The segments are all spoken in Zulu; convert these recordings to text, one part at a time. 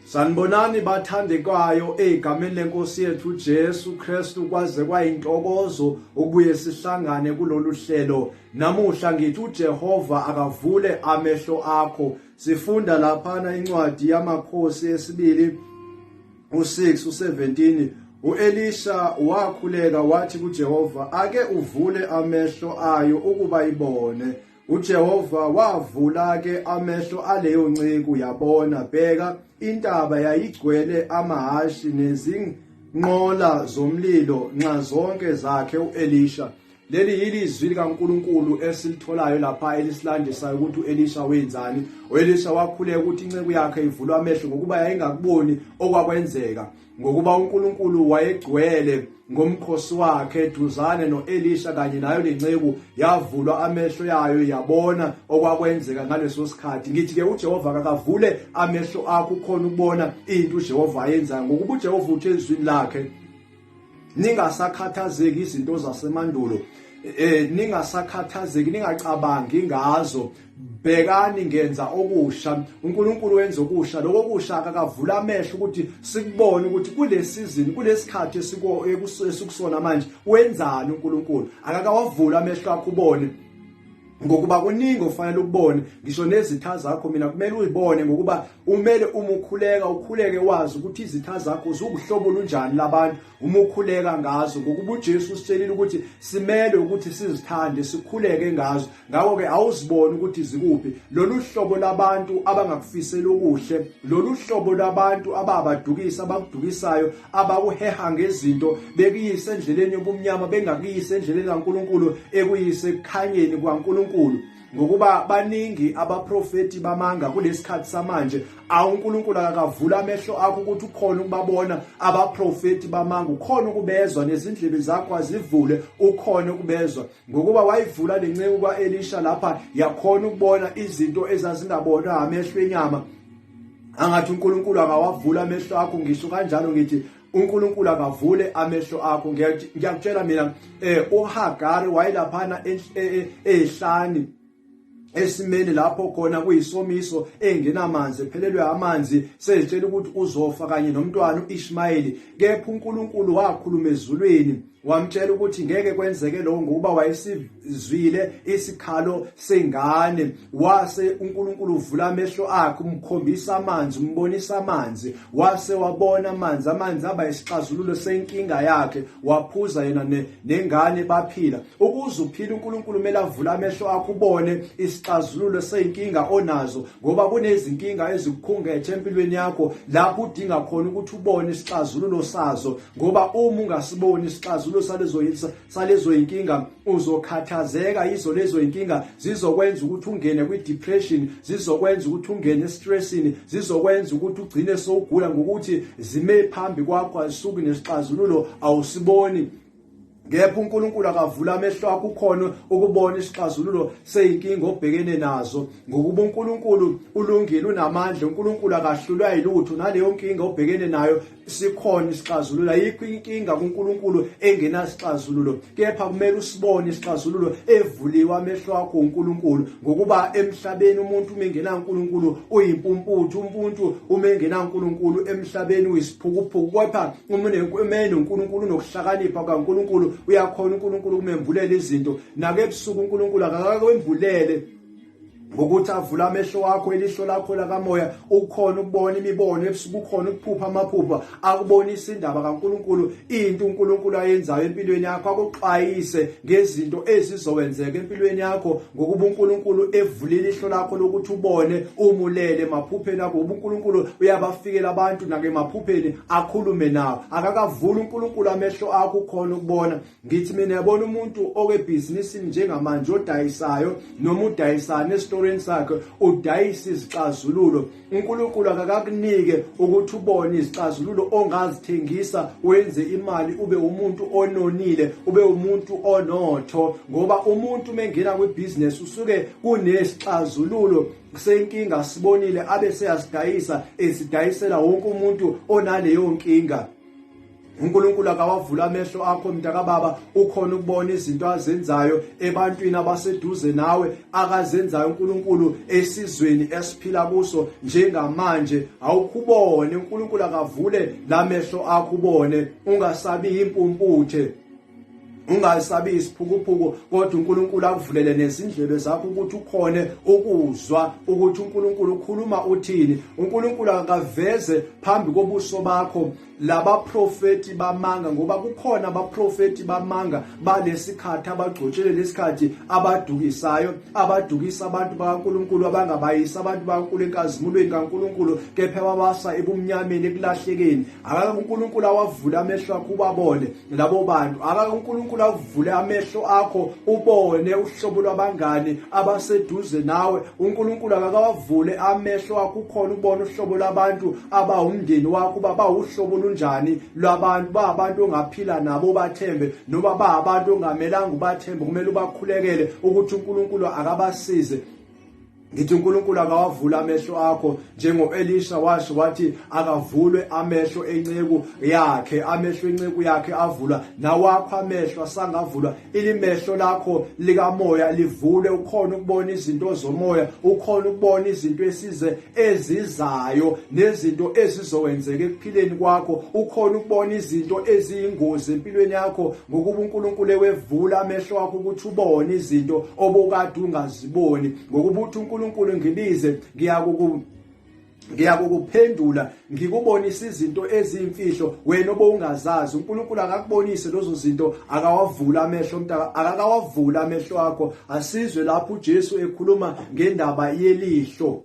Sanibonani bathandekayo egameni lenkosi yethu Jesu Kristu kwaze kwayintokozo ukubuye sihlangane kulolu hlelo namuhla ngithi uJehova akavule amehlo akho sifunda laphana incwadi yamakhosi esibili u6 u17 uElisha wakhuleka wathi kuJehova ake uvule amehlo ayo ukuba ibone UJehova wavula ke amehlo aleyo nceku yabona bheka intaba yayigcwele amahashi nezinqola zomlilo nxa zonke zakhe uElisha leli yili izwi likaNkuluNkulu esilitholayo lapha elisilandisayo ukuthi uElisha wenzani uElisha wakhuleka ukuthi inceku yakhe ivulwa amehlo ngokuba yayingakuboni okwakwenzeka ngokuba uNkulunkulu wayegcwele ngomkhosi wakhe eduzane noElisha kanye nayo lenceku yavulwa amehlo yayo yabona okwakwenzeka ngaleso sikhathi ngithi ke uJehova akavule amehlo akho khona ukubona into uJehova ayenzayo ngokuba uJehova uthe ezwini lakhe ningasakhathazeki izinto zasemandulo eh ningasakhathazeki ningacabangi ngazo bhekani ngenza okusha uNkulunkulu wenza okusha lokho kusha akakavula amehlo ukuthi sikubone ukuthi kule season kulesikhathi esikusona manje wenzani uNkulunkulu akakawavula amehlo akho ubone ngokuba kuningi ofanele ukubone ngisho nezitha zakho mina kumele uyibone ngokuba umele umukhuleka ukhuleke wazi ukuthi izitha zakho zukuhlobo lunjani labantu uma ukhuleka ngazo ngokuba uJesu usitshelile ukuthi simelwe ukuthi sizithande sikhuleke ngazo ngakho ke awuziboni ukuthi zikuphi lolu hlobo labantu abangakufisela okuhle lolu hlobo labantu ababadukisa abakudukisayo abakuheha ngezinto bekuyise endleleni yobumnyama bengakuyise endleleni kaNkuluNkulu ekuyise ekukhanyeni kwaNkuluNkulu ngokuba baningi abaprofeti bamanga kulesikhathi samanje awuNkulunkulu akakavula amehlo akho ukuthi ukhona ukubabona abaprofeti bamanga ukhona ukubezwa nezindlebe zakho azivule ukhona ukubezwa ngokuba wayivula lenceku kwaElisha lapha yakhona ukubona izinto ezazingabonwa amehlo enyama angathi uNkulunkulu akawavula amehlo akho ngisho kanjalo ngithi uNkulunkulu akavule amehlo akho ngiyakutshela mina eh uHagari wayilaphana e, e, ehlani esimeni lapho khona kuyisomiso engenamanzi ephelelwe amanzi sezitshela ukuthi uzofa kanye nomntwana uIshmayeli kepha uNkulunkulu wakhuluma ezulwini wamtshela ukuthi ngeke kwenzeke lokho ngokuba wayesizwile isikhalo sengane wase uNkulunkulu uvula amehlo akhe umkhombisa amanzi umbonisa amanzi wase wabona amanzi amanzi aba isixazululo senkinga yakhe waphuza yena ne, nengane baphila ukuze uphile uNkulunkulu kumele avule amehlo akhe ubone isixazululo senkinga onazo ngoba kunezinkinga ezikukhungethe empilweni yakho lapho udinga khona ukuthi ubone isixazululo sazo ngoba uma ungasiboni isixazululo salezoyinsa salezoyinkinga uzokhathazeka yizo lezoyinkinga zizokwenza ukuthi ungene kwi depression zizokwenza ukuthi ungene estressini zizokwenza ukuthi ugcine sowugula ngokuthi zime phambi kwakho azisuki nesixazululo awusiboni Ngepha uNkulunkulu akavula amehlo akho ukhona ukubona isixazululo seyinkinga obhekene nazo ngokuba uNkulunkulu ulungile unamandla uNkulunkulu akahlulwa yilutho naleyo nkinga obhekene nayo sikhona isixazululo ayikho inkinga kuNkulunkulu engenasixazululo kepha kumele usibone isixazululo evuliwe amehlo akho uNkulunkulu ngokuba emhlabeni umuntu uma engenankulunkulu uyimpumputhu umuntu uma engenankulunkulu emhlabeni uyisiphukuphuku kodwa uma enonkulunkulu unokuhlakanipha kankulunkulu uyakhona unkulunkulu kumembulela izinto nakebusuku unkulunkulu akakakwembulele ngokuthi avule amehlo wakho ilihlo lakho lakamoya ukhona ukubona imibono ebusuku ukhona ukuphupha amaphupha akubonise indaba kaNkuluNkulu into uNkuluNkulu ayenzayo empilweni yakho akuxwayise ngezinto ezizowenzeka empilweni yakho ngokuba uNkuluNkulu evulile ihlo lakho lokuthi ubone umulele emaphupheni akho uNkuluNkulu uyabafikela abantu nake emaphupheni akhulume nawo akakavuli uNkuluNkulu amehlo akho ukhona ukubona ngithi mina yabona umuntu okebhizinisini njengamanje odayisayo noma udayisana esitorini sakhe udayisa izixazululo unkulunkulu akakakunike ukuthi ubone izixazululo ongazithengisa wenze imali ube umuntu ononile ube umuntu onotho ngoba umuntu uma engena kwibhizinesi usuke kunesixazululo senkinga sibonile abe seyasidayisa esidayisela wonke umuntu onaleyo nkinga uNkulunkulu akawavula amehlo akho mntakababa ukhona ukubona izinto azenzayo ebantwini abaseduze nawe akazenzayo uNkulunkulu esizweni esiphila kuso njengamanje awukhubone uNkulunkulu akavule lamehlo akho ubone ungasabi impumputhe ungasabi isiphukuphuku kodwa uNkulunkulu akuvulele nezindlebe zakho ukuthi ukhone ukuzwa ukuthi uNkulunkulu ukhuluma uthini uNkulunkulu akaveze phambi kobuso bakho labaprofeti bamanga ngoba kukhona abaprofeti bamanga balesikhathi abagcotshele lesikhathi abadukisayo abadukisa abantu bakaNkuluNkulu abangabayisi abantu bakaNkuluNkulu enkazimulweni kaNkuluNkulu kepha babasa ebumnyameni ekulahlekeni akaNkuluNkulu awavula amehlo akho ubabone labo bantu aka uNkulunkulu avule amehlo akho ubone uhlobo lwabangani abaseduze nawe uNkulunkulu akawavule amehlo akho ukhona ubone uhlobo labantu abawumndeni wakho baba uhlobo lunjani lwabantu ba abantu ongaphila nabo bathembe noma ba abantu ongamelanga ubathembe kumele ubakhulekele ukuthi uNkulunkulu akabasize Ngithi uNkulunkulu akawavula amehlo akho njengoElisha washo wathi akavulwe amehlo enceku yakhe amehlo enceku yakhe avulwa nawakho amehlo asangavulwa ilimehlo lakho likamoya livule ukhona ukubona izinto zomoya ukhona ukubona izinto esize ezizayo nezinto ezizokwenzeka ekuphileni kwakho ukhona ukubona izinto eziyingozi empilweni yakho ngokuba uNkulunkulu ewevula amehlo akho ukuthi ubone izinto obukade ungaziboni ngokuba uthi uNkulunkulu ngibize ngiyakuku ngiyakukuphendula ngikubonisa izinto eziyimfihlo wena obowungazazi uNkulunkulu akakubonise lezo zinto akawavula amehlo mntaka akakawavula amehlo akho asizwe lapho uJesu ekhuluma ngendaba yelihlo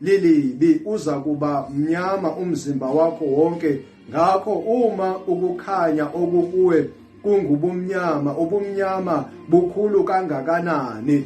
lilibi uza kuba mnyama umzimba wakho wonke ngakho uma ukukhanya okukuwe kungubumnyama ubumnyama bukhulu kangakanani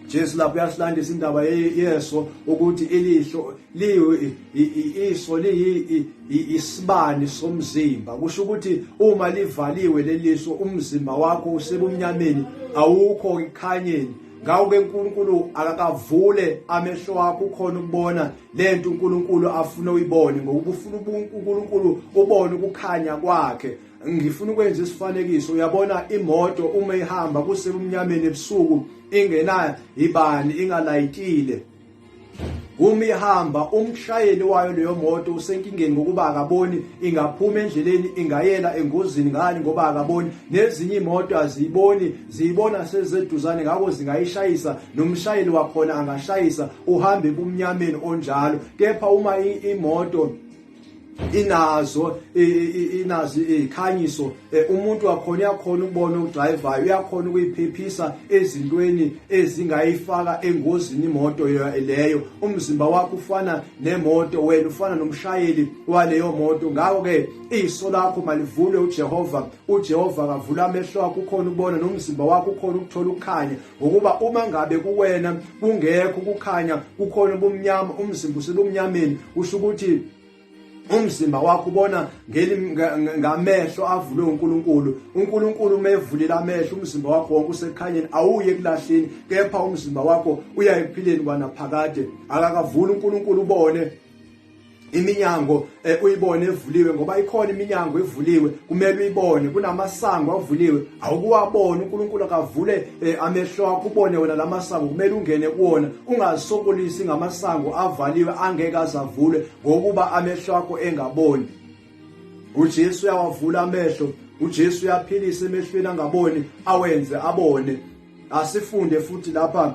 Jesu lapho uyasilandisa indaba yeso ukuthi ilihlo liyiso liyi isibani somzimba kusho ukuthi uma livaliwe leliso umzimba wakho usebumnyameni awukho ekukhanyeni ngawuke uNkulunkulu akakavule amehlo wakho ukhona ukubona lento uNkulunkulu afuna uyibone ngokuba ufuna uNkulunkulu ubone ukukhanya kwakhe ngifuna ukwenza isifanekiso uyabona imoto uma ihamba kusebumnyameni ebusuku ingena ibani ingalayitile Uma ihamba umshayeli wayo leyo moto usenkingeni ngokuba akaboni ingaphuma endleleni ingayela engozini ngani ngoba akaboni nezinye imoto aziyiboni ziyibona sezeduzane ngakho zingayishayisa nomshayeli wakhona angashayisa uhambe ebumnyameni onjalo kepha uma imoto inazo inazo izikhanyiso eh, umuntu wakhona uyakhona ukubona okudrivayo uyakhona ukuyiphephisa ezintweni ezingayifaka engozini imoto leyo umzimba wakho ufana nemoto wena ufana nomshayeli waleyo moto ngakho ke iso lakho malivulwe uJehova uJehova akavula amehlo akho ukhona ubona nomzimba wakho ukhona ukuthola ukukhanya ngokuba uma ngabe kuwena kungekho ukukhanya kukhona ubumnyama umzimba usebumnyameni kusho ukuthi umzimba wakho ubona ngamehlo avulwe uNkulunkulu uNkulunkulu uma evulile amehlo umzimba wakho wonke usekukhanyeni awuye kulahleni kepha umzimba wakho uya ekuphileni kwanaphakade akakavuli uNkulunkulu ubone iminyango eh, uyibone evuliwe ngoba ikhona iminyango evuliwe kumele uyibone kunamasango avuliwe awukuwabona uNkulunkulu akavule eh, amehlo akho ubone wena lamasango kumele ungene kuwona ungasokolisi ngamasango avaliwe angeke azavule ngokuba amehlo akho engaboni uJesu uyawavula amehlo uJesu uyaphilisa emehlweni angaboni awenze abone asifunde futhi lapha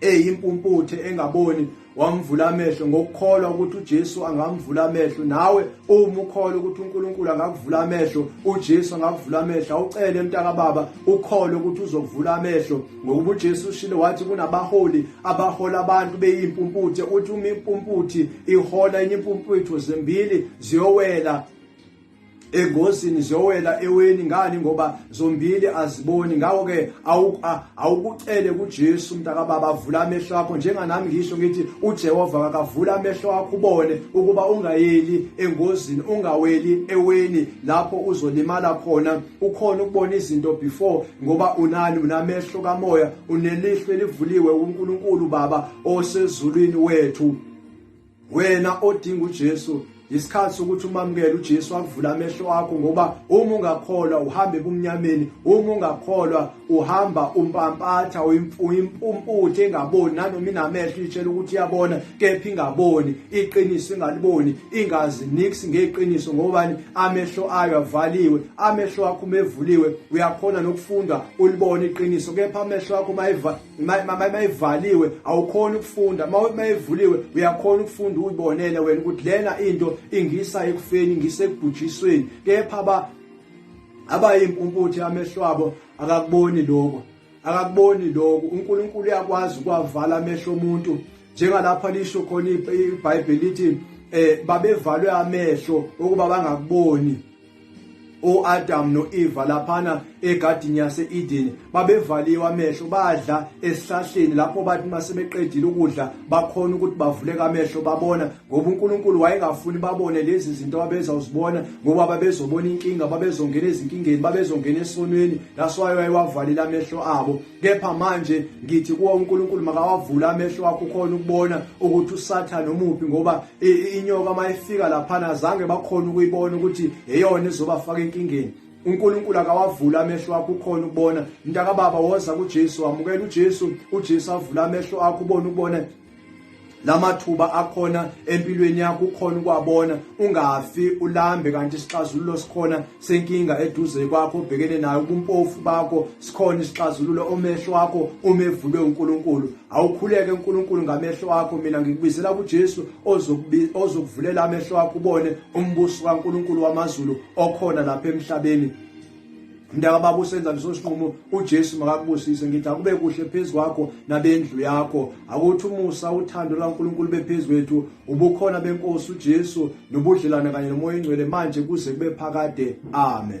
eyimpumputhe engaboni wamvula amehlo ngokukholwa ukuthi uJesu angamvula amehlo nawe uma ukholwa ukuthi uNkulunkulu angakuvula amehlo uJesu angakuvula amehlo awucele emntaka baba ukholwe ukuthi uzokuvula amehlo ngokuba uJesu ushilo wathi kunabaholi abahola abantu beyimpumputhe uthi uma impumputhi ihola enye impumputho zimbili ziyowela engozini ziyowela eweni ngani ngoba zombili aziboni ngakho ke awukucele kuJesu mntaka baba vula amehlo akho njenganami ngisho ngithi uJehova akavula amehlo akho ubone ukuba ungayeli engozini ungaweli eweni lapho uzolimala khona ukhona ukubona izinto before ngoba unani unamehlo kamoya unelihlo elivuliwe uNkulunkulu baba osezulwini wethu wena odinga uJesu isikhathi sokuthi umamukele uJesu akuvula amehlo akho ngoba uma ungakholwa uhambe kumnyameni uma ungakholwa uhamba umpampatha uyimpumputhi engaboni nanoma inamehlo itshela ukuthi iyabona kepha ingaboni iqiniso ingaliboni ingazi nix ngeqiniso ngobani amehlo ayo avaliwe amehlo akho umevuliwe uyakhona nokufunda ulibone iqiniso kepha amehlo akho mayiva mayivaliwe awukhona ukufunda mayevuliwe uyakhona ukufunda uyibonele wena ukuthi lena into ingisa ekufeni ingisa ekubhujisweni kepha ba abayimpumputhe amehlo abo akakuboni lokho akakuboni lokho uNkulunkulu uyakwazi ukwavala amehlo omuntu njengalapha lisho khona iBhayibheli lithi eh babevalwe amehlo ukuba bangakuboni uAdam noEva laphana egadini yaseEden babevaliwe amehlo badla esihlahleni lapho bathi masebeqedile ukudla bakhona ukuthi bavuleka amehlo babona ngoba uNkulunkulu wayengafuni babone lezi zinto babeza uzibona ngoba babezobona inkinga babezongena ezinkingeni babezongena esonweni that's why wayewavalile amehlo abo kepha manje ngithi kuwo uNkulunkulu makawavula amehlo akho khona ukubona ukuthi uSathane omuphi ngoba inyoka mayifika laphana azange bakhona ukuyibona ukuthi eyona izobafaka enkingeni uNkulunkulu akawavula amehlo akho ukhona ukubona mntaka baba woza kuJesu wamukela uJesu uJesu avula amehlo akho ubone ukubona lamathuba akhona empilweni yakho ukhona ukwabona ungafi ulambe kanti isixazululo sikhona senkinga eduze kwakho obhekene nayo ubumpofu bakho sikhona isixazululo omehlo wakho uma evulwe uNkulunkulu awukhuleke uNkulunkulu ngamehlo wakho mina ngikubizela kuJesu ozokuvulela amehlo wakho ubone umbuso kaNkulunkulu wamazulu okhona lapha emhlabeni mntaka baba usenza leso sinqumo uJesu makakubusise ngithi akube kuhle phezu kwakho nabendlu yakho akuthi umusa uthando lwaNkulunkulu bephezulu wethu ubukhona benkosi uJesu nobudlelwane kanye nomoya oyingcwele manje kuze kube phakade amen